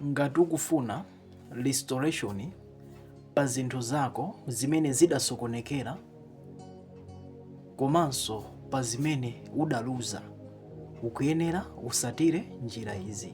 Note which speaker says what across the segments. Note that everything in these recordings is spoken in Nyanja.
Speaker 1: Ngati ukufuna restoration pa zinthu zako zimene zidasokonekera komanso pa zimene udaluza, ukuyenera usatire njira izi.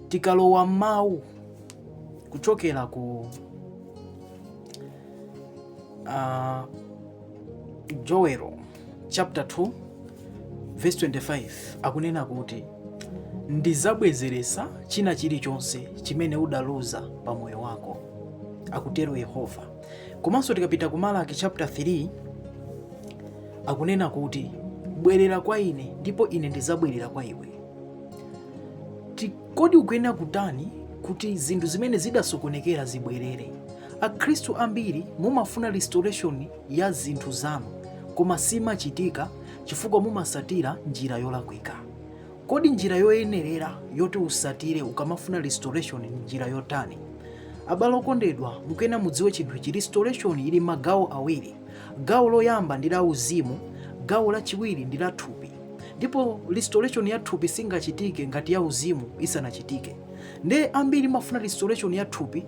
Speaker 1: Tikalowa m'mawu kuchokera ku uh, Joel chapter 2 verse 25 akunena kuti ndizabwezeretsa china chilichonse chimene udaluza pa moyo wako akutero yehova komanso tikapita ku malaki chapter 3 akunena kuti bwerera kwa ine ndipo ine ndizabwerera kwa iwe Ti- kodi ukuyenera kutani kuti zinthu zimene zidasokonekera zibwerere akhristu ambiri mumafuna restoration ya zinthu zanu, koma simachitika chifukwa mumasatira njira yolakwika. Kodi njira yoyenerera yoti usatire ukamafuna restoration ni njira yotani? Abale okondedwa, mukuyena mudziwe chinthu ichi, restoration ili magawo awiri. Gawo loyamba ndi la uzimu, gawo lachiwiri ndi la thupi. Ndipo restoration ya thupi singachitike ngati ya uzimu isanachitike. Nde ambiri mumafuna restoration ya thupi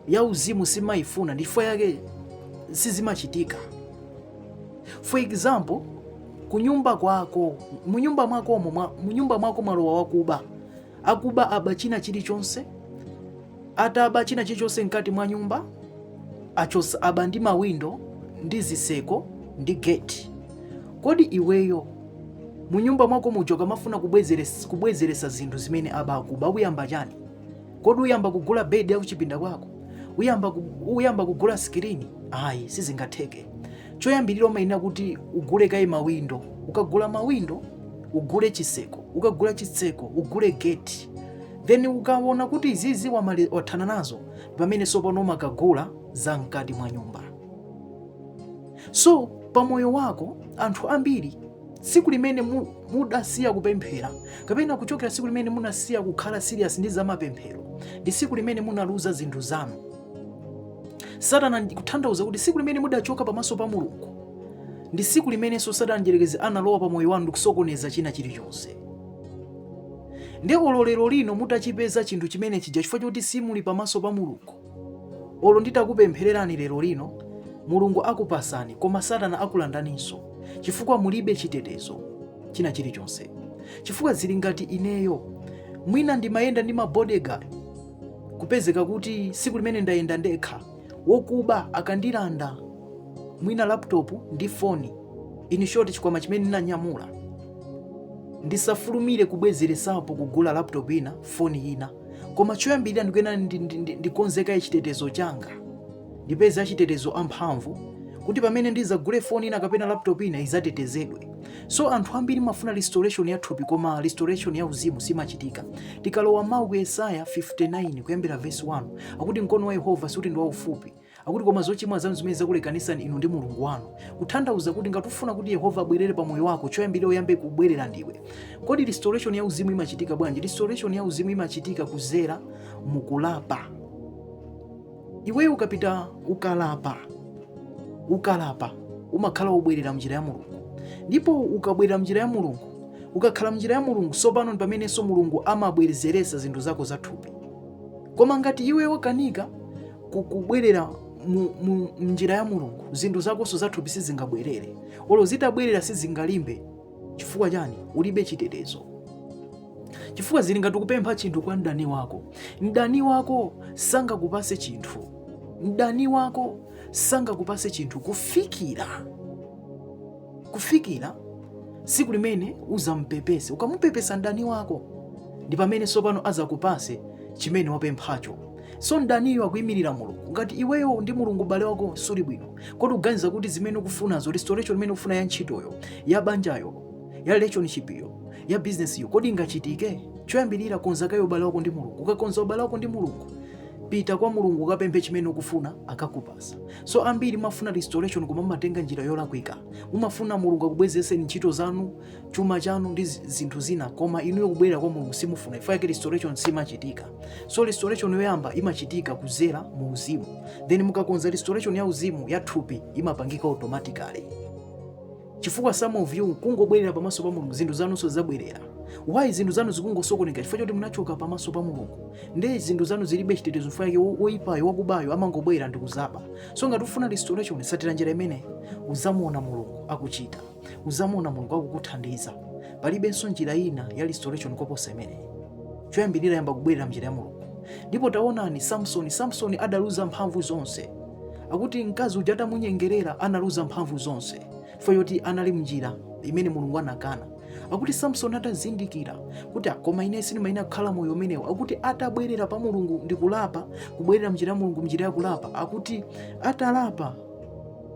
Speaker 1: ya uzimu simaifuna ndifukwa yake sizimachitika for example kunyumba kwako munyumba mwa, munyumba mwako mwalowa wakuba akuba aba china chilichonse ataba china chilichonse mkati mwa nyumba achosa aba ndi mawindo ndi ziseko ndi gate kodi iweyo munyumba mwako muja ukamafuna kubwezeresa zinthu zimene aba akuba uyamba chani kodi uyamba kugula bedi ya kuchipinda kwako uyamba, uyamba kugula sikirini ayi sizingatheke choyambirira umayenera kuti ugule kaye mawindo ukagula mawindo ugule chiseko ukagula chiseko ugule geti then ukaona kuti izizi wathana nazo ni pamene sopano umakagula za mkati mwa nyumba so pamoyo wako anthu ambiri tsiku limene mudasiya kupemphera kapena kuchokera tsiku limene munasiya kukhala serious ndi zamapemphero ndi tsiku limene munaluza zinthu zanu satana kutanthauza kuti tsiku limene mudachoka pamaso pa mulungu ndi tsiku limenenso satana mdyerekezi analowa pa moyo wanu ndikusokoneza china chilichonse nde olo lero lino mutachipeza chinthu chimene chija chifukwa choti simuli pamaso pa mulungu olo nditakupemphererani lero lino mulungu akupasani koma satana akulandaninso chifukwa mulibe chitetezo china chilichonse chifukwa zili ngati ineyo mwina ndimayenda ndi mabodyguard kupezeka kuti siku limene ndayenda ndekha wokuba akandilanda mwina laptop ndi foni in short chikwama chimene ndinanyamula ndisafulumire kubwezeresapo kugula laptop ina foni ina koma choyambirira ndikuyenera ndikonze kaye chitetezo changa ndipeze achitetezo amphamvu kuti pamene ndizagule foni ina kapena laptop ina izatetezedwe. So anthu ambiri mafuna restoration ya thupi koma restoration ya uzimu simachitika. Tikalowa mawu ku Yesaya 59 kuyambira verse 1 akuti mkono wa Yehova sikuti ndi waufupi Akuti koma zochimwa zanu zimene zakulekanisani inu ndi Mulungu wanu. Kuthandauza kuti ngati ufuna kuti Yehova abwerere pa moyo wako, choyambirira uyambe kubwerera ndiwe. Kodi restoration ya uzimu imachitika bwanji? Restoration ya uzimu imachitika kuzera mukulapa. Iweyo ukapita ukala- ukalapa umakhala wabwerera mnjira ya Mulungu, ndipo ukabwerera mnjira ya Mulungu, ukakhala mnjira ya Mulungu, sopano ndi pamenenso Mulungu amabwerezeresa zinthu zako zathupi. Koma ngati iwe wakanika kubwerera mnjira ya mulungu zinthu zakonso zathupi sizingabwerere olo zitabwerera sizingalimbe chifukwa chani ulibe chitetezo chifukwa zili ngati kupempha chinthu kwa mdani wako mdani wako sangakupase chinthu mdani wako sangakupase chinthu kufikira kufikira siku limene uzampepese ukamupepesa mdani wako ndi pamene sopano azakupase chimene wapemphacho so mdaniyo akuimirira mulungu ngati iweyo ndi mulungu ubale wako suli bwino kodi uganiza kuti zimene ukufunazo restoration imene ukufuna ya ntchitoyo ya banjayo ya relationship yo ya business yo kodi ingachitike choyambirira konza kaye ubale wako ndi mulungu ukakonza ubale wako ndi mulungu pita kwa mulungu ukapemphe chimene ukufuna akakupasa so ambiri mafuna restoration koma mumatenga njira yolakwika mumafuna mulungu akubwezeseni ntchito zanu chuma chanu ndi zi- zinthu zina koma inuyo kubwerera kwa mulungu simufuna chifukwa yake restoration simachitika so restoration yoyamba imachitika kuzera mu uzimu then mukakonza restoration ya uzimu ya thupi imapangika automatically chifukwa some of you kungobwerera pamaso pa mulungu zinthu zanunso zabwerera why zinthu zanu zikungosokoneka chifukwa choti munachoka pamaso pa mulungu nde zinthu zanu zilibe chitetezo chifukwa yake wo- woyipayo wakubayo amangobwera ndikuzaba so ngati ufuna restoration satira njira imene uzamuona mulungu akuchita uzamuona mulungu akukuthandiza palibenso njira ina ya restoration koposa imeneyi choyambirira yamba kubwerera mnjira ya mulungu ndipo taonani samsoni samsoni adaluza mphamvu zonse akuti mkazi uja atamunyengerera analuza mphamvu zonse chifukwa choti anali mnjira imene mulungu anakana akuti samsoni atazindikira kuti ah koma ine sindimayenera kukhala moyo umenewo akuti atabwerera pa mulungu ndi kulapa kubwerera mnjira ya mulungu mnjira ya kulapa akuti atalapa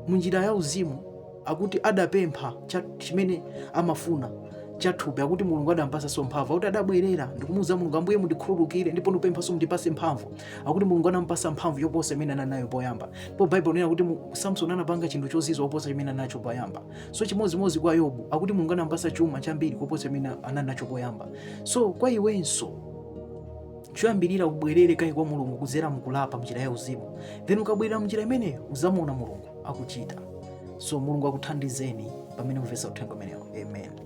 Speaker 1: munjira ya uzimu akuti adapempha cha- chimene amafuna chathupi akuti mulungu adampatsanso mphamvu akuti adabwerera ndikumuuza mulungu ambuye mundikhululukire ndipo ndipemphanso mundipatse mphamvu akuti mulungu adampatsa mphamvu yoposa imene anali nayo poyamba ndipo Bible inena kuti mu- samsoni anapanga chinthu chozizwa kuposa chimene anali nacho poyamba so chimodzimodzi kwa yobu akuti mulungu adampatsa chuma chambiri kuposa chimene anali nacho poyamba so kwa iwenso choyambirira ubwerere kaye kwa mulungu kudzera mkulapa mnjira ya uzimu then ukabwerera mnjira imeneyo uzamuona mulungu akuchita. So Mulungu akuthandizeni pamene mukumvetsa uthenga umenewu. Amen.